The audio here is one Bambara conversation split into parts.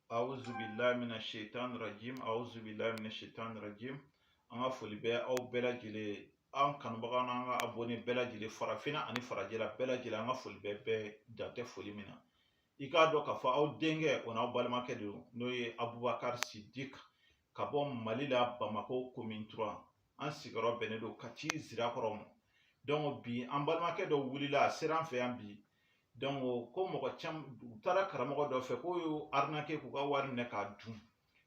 awuzu bilahi mina shaitan rajim awuzu bilahi mina shaitan rajim an ka foli bɛ aw bɛɛ lajɛlen an kanubaga n'an ka abɔne bɛɛ lajɛlen farafinna ani farajɛla bɛɛ lajɛlen an ka foli bɛ bɛɛ dan tɛ foli min na i k'a dɔn k'a fɔ aw denkɛ o n'aw balimakɛ de don n'o ye abubakari sidik ka bɔ mali la bamako commune trois an sigiyɔrɔ bɛnnen don kati zirakɔrɔ ma donc bi an balimakɛ dɔ wulila a sera an fɛ yan bi donc ko mɔgɔ caman u taara karamɔgɔ dɔ fɛ k'o y'u arnaqué k'u ka wari minɛ k'a dun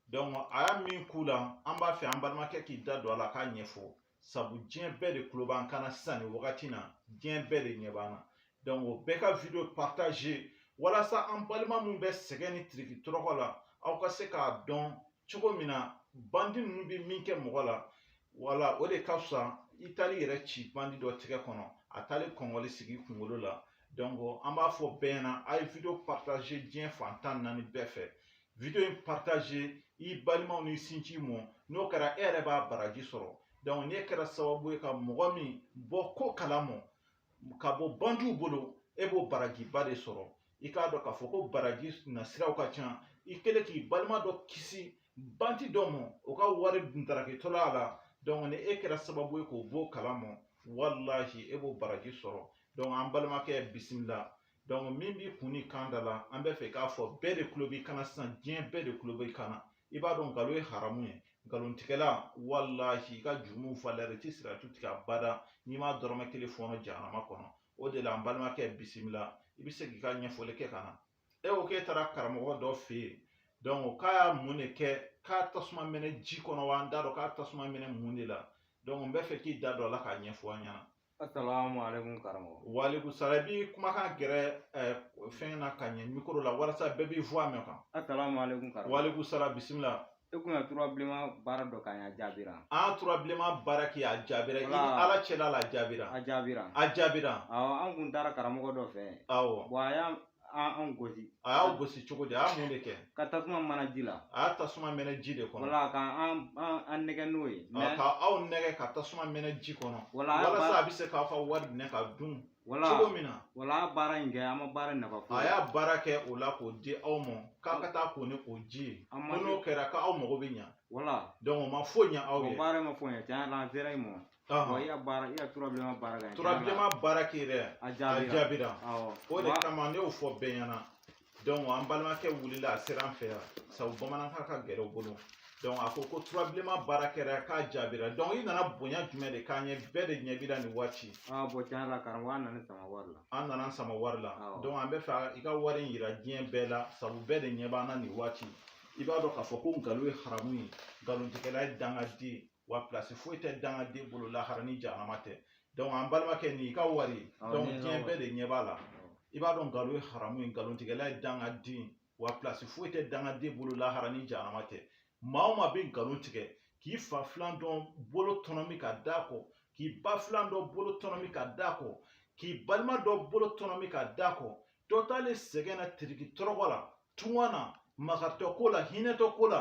donc a y'a min k'u la an b'a fɛ an balimakɛ k'i da don a la k'a ɲɛfɔ sabu diɲɛ bɛɛ de tulo b'an kan na sisan nin wagati na diɲɛ bɛɛ de ɲɛ b'an na donc o bɛɛ ka video partage walasa an balima min bɛ sɛgɛn ni tiriki tɔrɔkɔ la aw ka se k'a dɔn cogo min na bandi ninnu bɛ min kɛ mɔgɔ la wala o de ka fisa i taali yɛrɛ ci bandi dɔ tigɛ kɔnɔ a taali kɔngɔli sigi kunkolo la donc an b'a fɔ bɛɛ ɲɛna a ye video partage diɲɛ fan tan ni naani bɛɛ fɛ video in partage i balimaw n'i sinji mɔ n'o kɛra e yɛrɛ b'a baraji sɔrɔ donc n'e kɛra sababu ye ka mɔgɔ min bɔ ko kala mɔ ka bɔ bandiw bolo e b'o barajiba de sɔrɔ i k'a dɔn k'a fɔ ko baraji nasiraw ka ca i kɛlen k'i balima dɔ kisi bandi dɔ ma o ka wari ntarakitɔla a la dɔnku ni e kɛra sababu ye k'o b'o kala ma walahi e b'o baraji sɔrɔ dɔnku an balimakɛ bisimila dɔnku min b'i kun ni kan da la an b'a fɛ i k'a fɔ bɛɛ de tulo b'i kan na sisan diɲɛ bɛɛ de tulo b'i kan na i b'a dɔn nkalon ye haramu ye nkalontigɛla walahi i ka jurumu falɛri ti siratu tigɛ abada n'i ma dɔrɔmɛ kelen fɔɔnɔ jahanama kɔnɔ o de la n balimakɛ bisimila i bɛ se k'i ka ɲɛfɔli kɛ ka na e ko k'e taara karamɔgɔ dɔ fɛ yen dɔnku k'a y'a mun de kɛ k'a tasuma mɛnɛ ji kɔnɔ wa an t'a dɔn k'a tasuma mɛnɛ mun de la dɔnku n bɛ fɛ k'i da don a la k'a ɲɛfɔ an ɲɛna Assalamu alaikum karamɔgɔ. Wa alaikum salam. I b'i kumakan gɛrɛ eh, fɛn na ka ɲɛ mikoro la walasa bɛɛ b'i voix mɛn kan. Assalamu alaikum karamɔgɔ. Wa alaikum salam bisimila. E kun ye tura bilenman baara dɔ k'an ye a jaabira. An tura bilenman baara kɛ a jaabira. I ni Ala cɛla la a jaabira. A jaabira. A jaabira. Awɔ an kun taara karamɔgɔ dɔ fɛ. Awɔ. Bon a y'a an gosi a y'aw gosi cogo di a y'a mun de kɛ ka tasuma mana ji la a y'a tasuma mɛnɛ ji de kɔnɔ wala ka an an nɛgɛ n'o ye ka aw nɛgɛ ka tasuma mɛnɛ ji kɔnɔ wala walasa a bɛ se k'aw ka wari minɛ ka dun wala cogo min na wala a baara in kɛ an ma baara nafa foyi a y'a baara kɛ o la k'o di aw ma k'aw ka taa ko ni o ji ye ko n'o kɛra k'aw mago bɛ ɲa wala donc o ma foyi ɲa aw ye o baara ma foyi ɲa tiɲɛ yɛrɛ la an sera yen mɔ Ɔhɔn. Wa i ya baara i ya tura bilema baara kɛ tura bilema baara kɛ yɛrɛ a jaabira o de kama ne y'o fɔ bɛɛ ɲɛna donc an balimakɛ wulila a sera an fɛ yan sabu bamanankan ka gɛlɛn u bolo donc a ko ko tura bilema baara kɛra k'a jaabira donc i nana bonya jumɛn de k'an ye bɛɛ de ɲɛ b'i la nin waati bon tiɲɛ yɛrɛ la karamɔgɔ an nana sama wari la an nana sama wari la donc an bɛ fɛ i ka wari in yira diɲɛ bɛɛ la sabu bɛɛ de ɲɛ b'an na nin waati i b'a dɔn k'a fɔ ko nkalon ye haramu ye nkalontigɛla ye dangaden wa pilasi foyi tɛ dangaden bolo lahara ni jahanama tɛ dɔnku an balimakɛ nin i ka wari dɔnku diɲɛ bɛɛ de ɲɛ b'a la i b'a dɔn nkalon ye haramu ye nkalontigɛla ye dangaden wa pilasi foyi tɛ dangaden bolo lahara ni jahanama tɛ maa o maa bɛ nkalon tigɛ k'i fa filan dɔ bolo tɔnɔmi ka d'a kɔ k'i ba filan dɔ bolo tɔnɔmi ka d'a kɔ k'i balima dɔ bolo tɔnɔmi ka d'a kɔ dɔ taalen sɛgɛn na tiriki tɔrɔgɔ la tunga na makaritɔ ko la hinɛtɔ ko la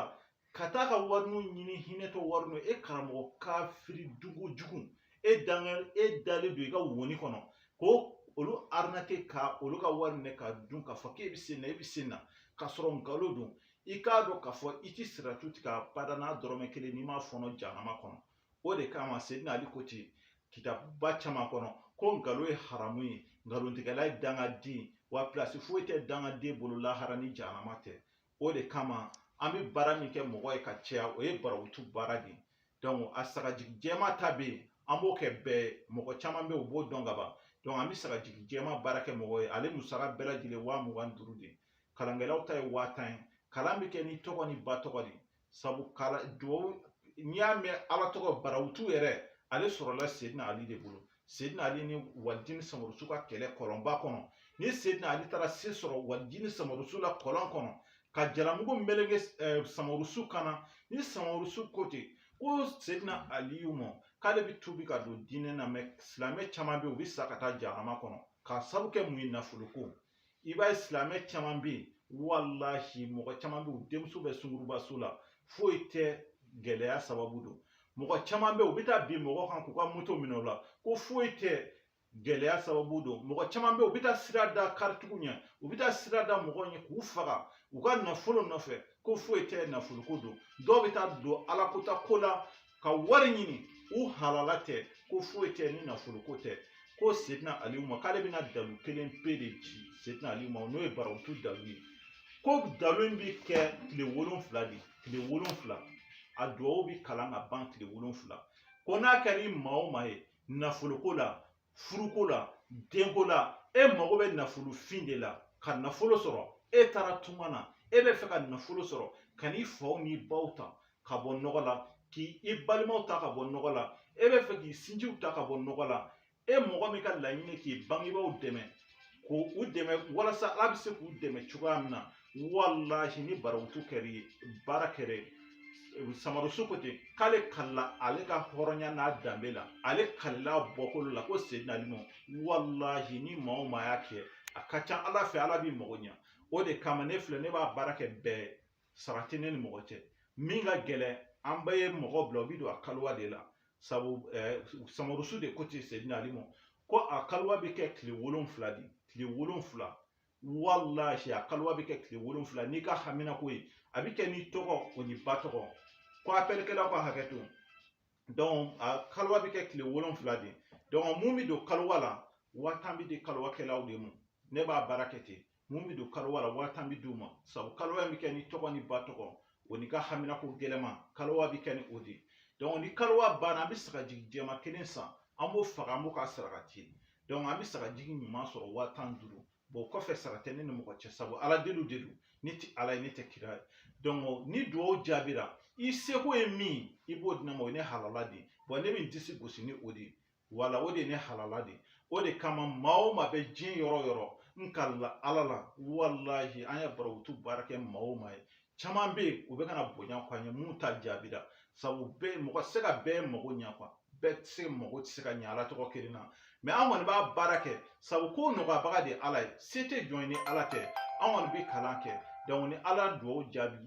ka taa ka wariniw ɲini hinɛtɔ wariniw e karamɔgɔ kafiri dugu jugu e danga e dalen don i ka woni kɔnɔ ko olu arinake ka olu ka wari minɛ ka dun k'a fɔ k'e bɛ sen na e bɛ sen na k'a sɔrɔ nkalon don i k'a dɔn k'a fɔ i tɛ siratu tigɛ abada n'a dɔrɔmɛ kelen n'i m'a fɔɔnɔ janama kɔnɔ o de kama sedina ali ko ten kitabuba caman kɔnɔ ko nkalon ye haramu ye nkalontigɛla ye dangaden wa pilasi foyi tɛ dangaden bolo lahara ni janama tɛ o de kama an bɛ baara min kɛ mɔgɔ ye ka caya o ye barawutu baara de ye donc a sagajigi jɛma ta bɛ yen an b'o kɛ bɛɛ mɔgɔ caman bɛ yen u b'o dɔn ka ban donc an bɛ sagajigi jɛma baara kɛ mɔgɔ ye ale musaka bɛɛ lajɛlen waa mugan ni duuru de kalankɛlaw ta ye waa tan ye kalan bɛ kɛ ni tɔgɔ ni ba tɔgɔ de ye sabu kala duwawu n'i y'a mɛn ala tɔgɔ barawutu yɛrɛ ale sɔrɔla sedina ali de bolo sedina ali ni walijini samarusu ka kɛlɛ kɔlɔnba kɔnɔ ni sedina ali taara se sɔrɔ walijini samarusu la kɔlɔn kɔnɔ ka jalamugu meleke samarusu kan na ni samarusu ko ten ko sedina aliyu ma k'ale bɛ tuubi ka don diinɛ na mɛ silamɛ caman bɛ yen u bɛ sa ka taa jahanama kɔnɔ k'a sabu kɛ mun ye nafoloko i b'a ye silamɛ caman bɛ yen walahi mɔgɔ caman bɛ yen u denmuso bɛ sungurubaso la foyi tɛ gɛlɛya sababu don mɔgɔ caman bɛ yen u bɛ taa bin mɔgɔ kan k'u ka moto minɛ u la ko foyi tɛ gɛlɛya sababu don mɔgɔ caman bɛ yen u bɛ taa sira da karitigiw ɲɛ u bɛ taa sira da mɔgɔw ɲɛ k'u faga u ka nafolo nɔfɛ ko foyi tɛ nafoloko don dɔw bɛ taa don alakota ko la ka wari ɲini u halala tɛ ko foyi tɛ ni nafoloko tɛ ko sedina aliyu ma k'ale bɛna dalu kelen pe de ci sedina aliyu ma n'o ye barawutu dalu ye ko dalu in bɛ kɛ tile wolonfila de tile wolonfila a duwawu bɛ kalan ka ban tile wolonfila ko n'a kɛra i maa o maa ye nafoloko la furuko la denko la e mago bɛ nafolofin de la ka nafolo sɔrɔ e taara tunga na e bɛ fɛ ka nafolo sɔrɔ ka n'i faw n'i baw ta ka bɔ nɔgɔ la k'i balimaw ta ka bɔ nɔgɔ la e bɛ fɛ k'i sinjiw ta ka bɔ nɔgɔ la e mɔgɔ min ka laɲini k'i bangebaaw dɛmɛ k'u dɛmɛ walasa ala bɛ se k'u dɛmɛ cogoya min na walahi ni barawutu kɛra i ye baara kɛra ye samarusu ko ten k'ale kalila ale ka hɔrɔnya n'a danbe la ale kalila bɔkolo la ko sedina ali ma walahi ni maa o maa y'a kɛ a ka ca ala fɛ ala b'i mago ɲa o de kama ne filɛ ne b'a baara kɛ bɛɛ sara tɛ ne ni mɔgɔ cɛ min ka gɛlɛn an bɛɛ ye mɔgɔ bila o bi don a kaliwa de la sabu eh, samarusu de ko ten sedina ali ma ko a kaliwa bɛ kɛ tile wolonfila de tile wolonfila walahi a kaliwa bɛ kɛ tile wolonfila n'i ka haminako ye a bɛ kɛ n'i tɔgɔ o n'i ba tɔgɔ ko apɛlikɛlaw ka hakɛ to donc a kaliwa bɛ kɛ tile wolonfila de donc mun bɛ don kaliwa la waa tan bɛ di kaliwakɛlaw de ma ne b'a baara kɛ ten mun bɛ don kalowa la waa tan bɛ d'u ma sabu kalowa bɛ kɛ n'i tɔgɔ n'i ba tɔgɔ o n'i ka haminako gɛlɛma kalowa bɛ kɛ ni o de ye ni kalowa banna an bɛ sagajigi jɛma kelen san an b'o faga an b'o ka saraka ci an bɛ sagajigi ɲuman sɔrɔ waa tan duuru bon kɔfɛ sara tɛ ne ni mɔgɔ cɛ sabu ala deliw de don ne tɛ ala ye ne tɛ kira ye donc ni dugawu jaabira i seko ye min i b'o di ne ma o ye ne halala de bon ne bɛ n disi gosi ni o de ye wala o de ye ne halala de o de kama maa o maa bɛ diɲɛ yɔrɔ yɔrɔ n kalila ala la walahi an ye barawutu baara kɛ maa o maa ye caman bɛ yen u bɛka na bonya k'an ye minnu ta jaabira sabu bɛɛ mɔgɔ tɛ se ka bɛɛ mago ɲɛ quoi bɛɛ tɛ se mago tɛ se ka ɲɛ ala tɔgɔ kelen na mais an kɔni b'a baara kɛ sabu ko nɔgɔyabaga de ye ala ye se tɛ jɔn ye ni ala tɛ an kɔni bɛ kalan kɛ donc ni ala dugawu jaabi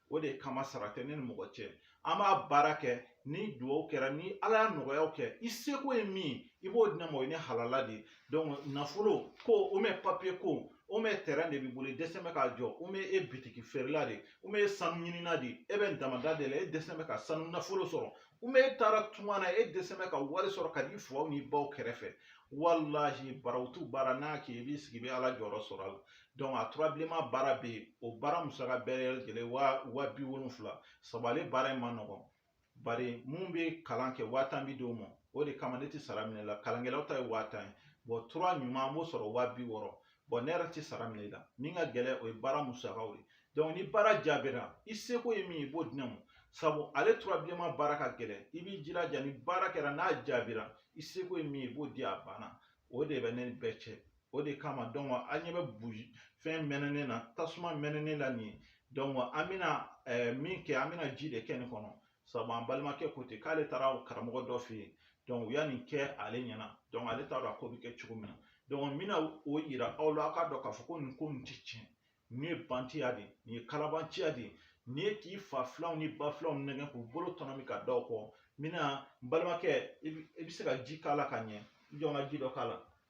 o de kama sara tɛ ne ni mɔgɔ cɛ an b'a baara kɛ ni dugawu kɛra ni ala y'a nɔgɔyaw kɛ i seko ye min i b'o di ne ma o ye ne halala de donc nafolo ko o mɛ papiye ko o mɛ tɛrɛn de b'i bolo i dɛsɛ bɛ k'a jɔ o mɛ e bitiki feerela de o mɛ e sanu ɲinina de e bɛ damada de la e dɛsɛ bɛ ka sanu nafolo sɔrɔ o mɛ e taara tunga na e dɛsɛ bɛ ka wari sɔrɔ ka d'i faw n'i baw kɛrɛfɛ walahi barawutu baara n'a kɛ i b'i sigi i bɛ ala jɔyɔrɔ sɔrɔ a la donc a tura bilenma baara bɛ yen o baara musaka bɛɛ lajɛlen waa waa bi wolonfila sabu ale baara in man nɔgɔn bari min bɛ kalan kɛ waa tan bi d'o ma o de kama ne tɛ sara minɛ la kalankɛlaw ta ye waa tan ye bon tura ɲuman an b'o sɔrɔ waa bi wɔɔrɔ bon ne yɛrɛ tɛ sara minɛ la min ka gɛlɛn o ye baara musakaw ye donc ni baara jaabira i seko ye min ye i b'o di ne ma sabu ale tura bilenma baara ka gɛlɛn i b'i jilaja ni baara kɛra n'a jaabira i seko ye min ye i b'o di a banna o de bɛ ne ni bɛɛ cɛ o de kama donc an ɲɛ bɛ buji fɛn mɛnɛnen na tasuma mɛnɛnen la nin ye donc an bɛna eh, min kɛ an bɛna ji de kɛ nin kɔnɔ sabu an balimakɛ ko ten k'ale taara karamɔgɔ dɔ fɛ yen donc u ye nin kɛ ale ɲɛna donc ale t'a dɔn a ko bɛ kɛ cogo min na donc n bɛna o yira aw la aw k'a dɔn k'a fɔ ko nin ko nin tɛ tiɲɛ nin ye bandiya de ye nin ye kalabanciya de ye nin ye k'i fa filanw ni ba filanw nɛgɛn k'u bolo tɔnɔmin ka da o kɔ n bɛna n balimakɛ i bɛ se ka ji k'a la ka ɲɛ jɔn ka ji dɔ k'a la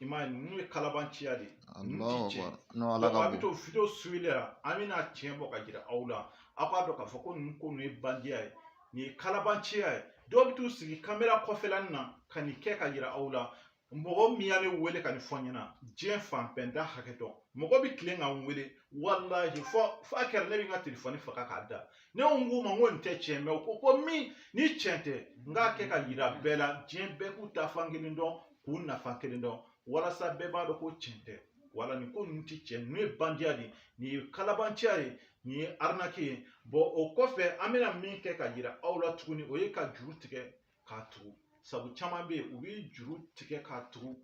i m'a ye ninnu ye kalabanciya de ye ninnu tɛ tiɲɛ donc a bɛ to video suivili la an bɛna tiɲɛ bɔ ka yira aw la aw k'a dɔn k'a fɔ ko ninnu ko ninnu ye bandiya ye nin ye kalabanciya ye dɔw bɛ t'u sigi kamera kɔfɛlanin na ka nin kɛ ka yira aw la mɔgɔ min ye ne wele ka nin fɔ n ɲɛna diɲɛ fan bɛɛ n t'a hakɛ dɔn mɔgɔ bɛ tilen ka n wele walahi fɔ f'a kɛra ne bɛ n ka telefɔni faga k'a da ne ko n k'u ma n ko nin tɛ tiɲɛ mɛ u ko ko min ni tiɲɛ tɛ n k'a kɛ ka yira bɛɛ la diɲɛ bɛɛ k'u ta fan kelen dɔn k'u nafa kelen dɔn walasa bɛɛ b'a dɔn ko tiɲɛ tɛ wala nin ko ninnu tɛ tiɲɛ ninnu ye bandiya de ye nin ye kalabanciya ye nin ye arnaque ye bɔn o kɔfɛ an bɛna min kɛ ka yira aw la tuguni o ye ka juru tigɛ k'a tugu sabu caman bɛ yen u bɛ juru tigɛ k'a tugu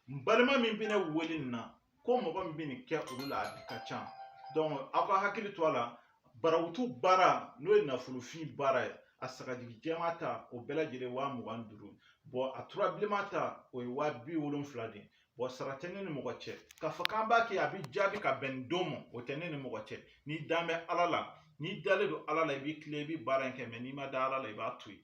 n balima min bɛ ne wele nin na ko mɔgɔ min bɛ nin kɛ olu la a ka ca aw ka hakili to a la barawutu baara n'o ye nafolofin baara ye a sagajigi jɛma ta o bɛɛ lajɛlen waa mugan ni duuru a tura bilenma ta o ye waa bi wolonfila de ye bɔn sara tɛ ne ni mɔgɔ cɛ k'a fɔ k'an b'a kɛ a bɛ jaabi ka bɛn nin don ma o tɛ ne ni mɔgɔ cɛ n'i dan bɛ ala la n'i dalen don ala la i b'i tilen i bɛ baara in kɛ mɛ n'i ma da ala la i b'a to yen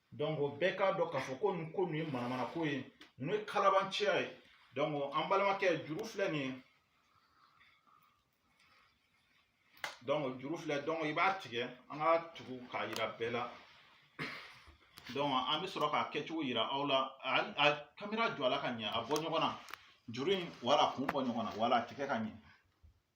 donc bɛɛ k'a dɔn k'a fɔ ko nin ko nin ye manamana ko ye ninnu ye kalabanciya ye donc an balimakɛ juru filɛ nin ye donc juru filɛ donc i b'a tigɛ an k'a tugu k'a yira bɛɛ la donc an bɛ sɔrɔ k'a kɛcogo yira aw la a kamera jɔ a la ka ɲɛ a bɔ ɲɔgɔn na juru in wala kun bɔ ɲɔgɔn na wala a tigɛ ka ɲɛ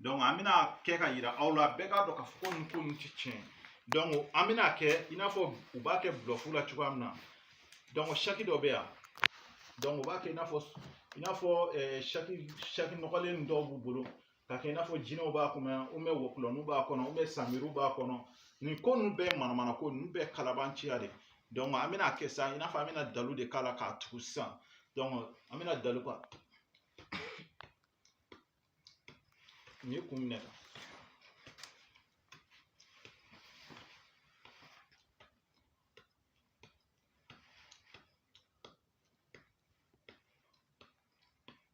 donc an bɛna kɛ ka yira aw la bɛɛ k'a dɔn k'a fɔ ko nin ko nin tɛ tiɲɛ donc an bɛna kɛ i n'a fɔ u b'a kɛ bulɔfu la cogoya min na donc saki dɔ bɛ yan donc u b'a kɛ i n'a fɔ i n'a fɔ saki saki nɔgɔlen dɔw b'u bolo ka kɛ i n'a fɔ jinɛw b'a kɔnɔ yan ou bien wɔkulɔninw b'a kɔnɔ ou bien samiriw b'a kɔnɔ nin ko ninnu bɛɛ manamana ko ninnu bɛɛ kalabanciya de donc an bɛna kɛ sisan i n'a fɔ an bɛna dalu de k'a la k'a tugu sisan donc an bɛna dalu ka Nin ye kun minɛ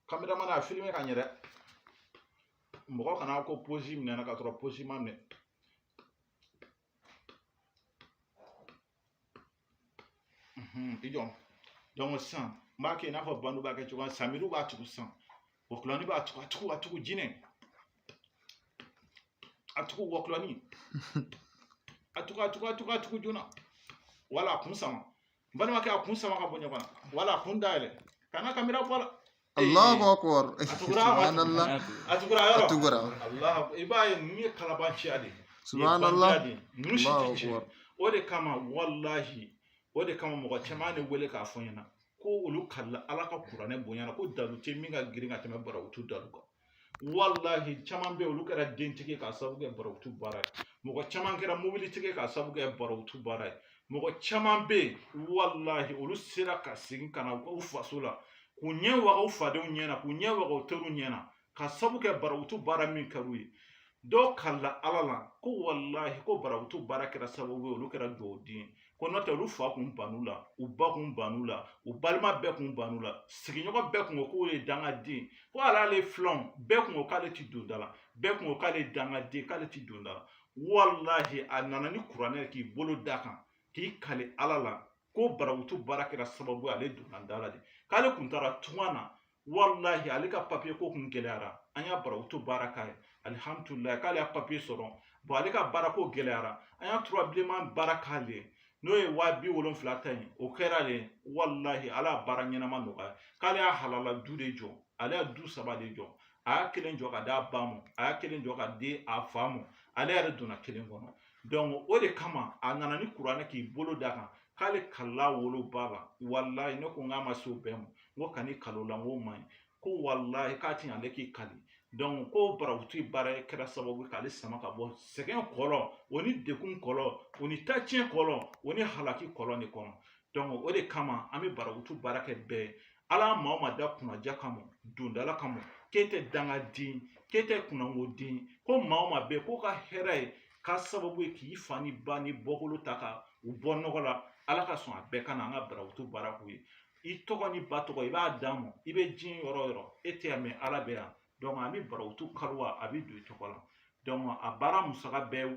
kameramani a filime ka ɲɛ dɛ mɔgɔ kana ko posi minɛna ka sɔrɔ posi ma minɛ Mhm, i jɔ donc sisan n b'a kɛ i n'a fɔ bandu b'a kɛ cogoya samiriw b'a tugu sisan wɔkulɔni b'a tugu a tugu a tugu jinɛ a tugu wɔkulɔni a tugu a tugu a tugu a tugu joona wala a kun sama n balimakɛ a kun sama ka bɔ ɲɔgɔn na wala a kun dayɛlɛ kana kamera bɔ la Allahu akbar subhanallah a tugura yɔrɔ a tugura i b'a ye ninnu ye kalabanciya de ye subhanallah ninnu si tɛ tiɲɛ o de kama walahi o de kama mɔgɔ caman ne wele k'a fɔ n ɲɛna ko olu kalila ala ka kuranɛ bonya na ko dalu tɛ min ka girin ka tɛmɛ barawutu dalu kan walahi caman bɛ olu kɛra dentigi k'a sababu kɛ barawutu baara ye mɔgɔ caman kɛra mobilitigi k'a sababu kɛ barawutu baara ye mɔgɔ caman bɛ walahi olu sera ka segin ka na u faso la k'u ɲɛ waga u fadenw ɲɛ na k'u ɲɛ waga u teriw ɲɛ na k'a sababu kɛ barawutu baara min kɛra u ye dɔw kalila ala la ko walahi ko barawutu baara kɛra sababu ye olu kɛra duwawuden ye ko n'o tɛ olu fa kun ban u la u ba kun ban u la u balima bɛɛ kun ban u la sigiɲɔgɔn bɛɛ kun ko k'o ye dangaden ko hali ale filanw bɛɛ kun ko k'ale ti don da la bɛɛ kun ko k'ale dangaden k'ale ti don da la walahi a nana ni kuranɛ k'i bolo da kan k'i kali ala la ko barawutu baara kɛra sababu ye ale donna da la de k'ale kun taara tunga na walahi ale ka papiye ko kun gɛlɛyara an y'a barawutu baara k'a ye alihamdulilayi k'ale y'a papiye sɔrɔ bɔn ale ka baara ko gɛlɛyara an y'a tura bilenman baara k'ale ye n'o ye waa bi wolonfila ta ye o kɛra de walahi ala y'a baara ɲɛnama nɔgɔya k'ale y'a halala du de jɔ ale y'a du saba de jɔ a y'a kelen jɔ ka d'a ba ma a y'a kelen jɔ ka di a fa ma ale yɛrɛ donna kelen kɔnɔ o de kama a nana ni kuranɛ k'i bolo da kan k'ale kalila woloba la walayi ne ko n k'a ma se o bɛɛ ma n ko kan'i kal'o la n k'o man ɲi ko walayi k'a to ale k'i kali ko barawutu baara kɛra sababu k'ale sama ka bɔ sɛgɛn kɔlɔn o ni degun kɔlɔn o ni taciyɛn kɔlɔn o ni halaki kɔlɔn de kɔnɔ o de kama an bɛ barawutu baara kɛ bɛɛ ye ala maa o maa da kunnadiya kama dondala kama k'e tɛ dangaden k'e tɛ kunnangoden ko maa o maa bɛɛ k'o ka hɛrɛ ye k'a sababu ye k'i fa ni ba ni bɔkolo ta ka u bɔ nɔgɔ la ala ka sɔn a bɛɛ ka na an ka barawutu baara k'u ye i tɔgɔ ni ba tɔgɔ i b'a d'a ma i bɛ diɲɛ yɔrɔ o yɔrɔ e tɛ yan mɛ ala bɛ yan donc an bɛ barawutu kaliwa a bɛ don i tɔgɔ la donc a baara musaka bɛɛ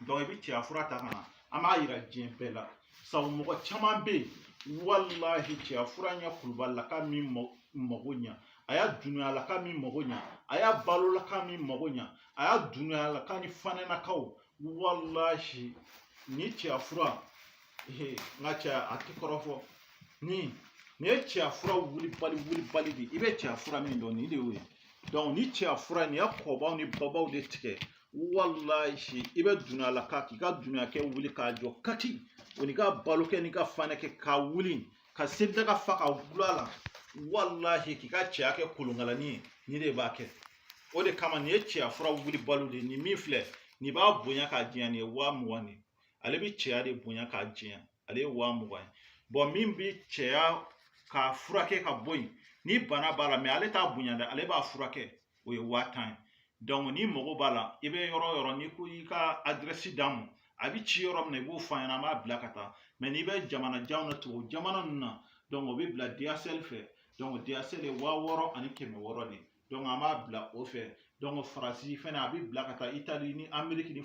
i bɛ cɛya fura ta ka na an b'a yira diɲɛ bɛɛ la sabu mɔgɔ caman bɛ yen walahi cɛya fura nin ye kulubalilaka min mago ɲa a y'a dunbuyalaka min mago ɲa a y'a balolaka min mago ɲa a y'a dunbuyalaka ni fanɛnakaw walahi ni cɛya fura n ka cɛya a tɛ kɔrɔfɔ ni nin ye cɛya fura wulibali wulibali de ye i bɛ cɛya fura min dɔn nin de y'o ye ni cɛya fura nin ye kɔbaw ni babaw de tigɛ walayi i bɛ dumuyalaka k'i ka dumuyakɛ wuli k'a jɔ kati o n'i ka balokɛ n'i ka fanɛkɛ k'a wuli ka selidaga fa k'a dulon a la walahi k'i ka cɛya kɛ kolonkalani ye ni de b'a kɛ o de kama nin ye cɛya fura wulibaliw de nin min filɛ nin b'a bonya k'a janya nin ye waa mugan de ale bɛ cɛya de bonya k'a janya ale ye waa mugan ye bon min bi cɛya k'a furakɛ ka bɔ yen ni bana b'a la mais ale t'a bonya dɛ ale b'a furakɛ o ye waa tan ye donc n'i mago b'a la i bɛ yɔrɔ o yɔrɔ n'i k'i ka adirɛsi d'an ma a bɛ ci yɔrɔ min na i b'o fɔ an ɲɛna an b'a bila ka taa mais n'i bɛ jamana janw na tubabu jamana ninnu na donc o bɛ bila dhl fɛ donc dhl ye waa wɔɔrɔ ani kɛmɛ wɔɔrɔ de an b'a bila o fɛ donc faransi fɛnɛ a bɛ bila ka taa itali ni ameriki ni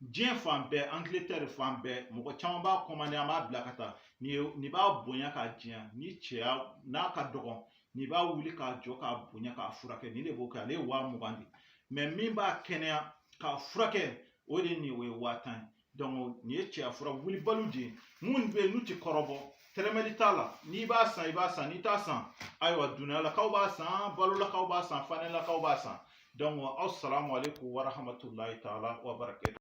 diɲɛ fan bɛɛ angiletɛri fan bɛɛ mɔgɔ caman b'a kɔmande an b'a bila ka taa nin b'a bonya k'a janya ni cɛya n'a ka dɔgɔn nin b'a wuli k'a jɔ k'a bonya k'a furakɛ nin de b'o kɛ ale ye waa mugan de mais min b'a kɛnɛya k'a furakɛ o de nin o ye waa tan ye donc nin ye cɛya fura wulibaliw de ye minnu bɛ yen n'u tɛ kɔrɔbɔ tɛrɛmɛli t'a la n'i b'a san i b'a san n'i t'a san ayiwa dumuyalakaw b'a san balolakaw b'a san fanɛlakaw b'a san donc asalamu aleykum warahamatulayi taala wabarakatu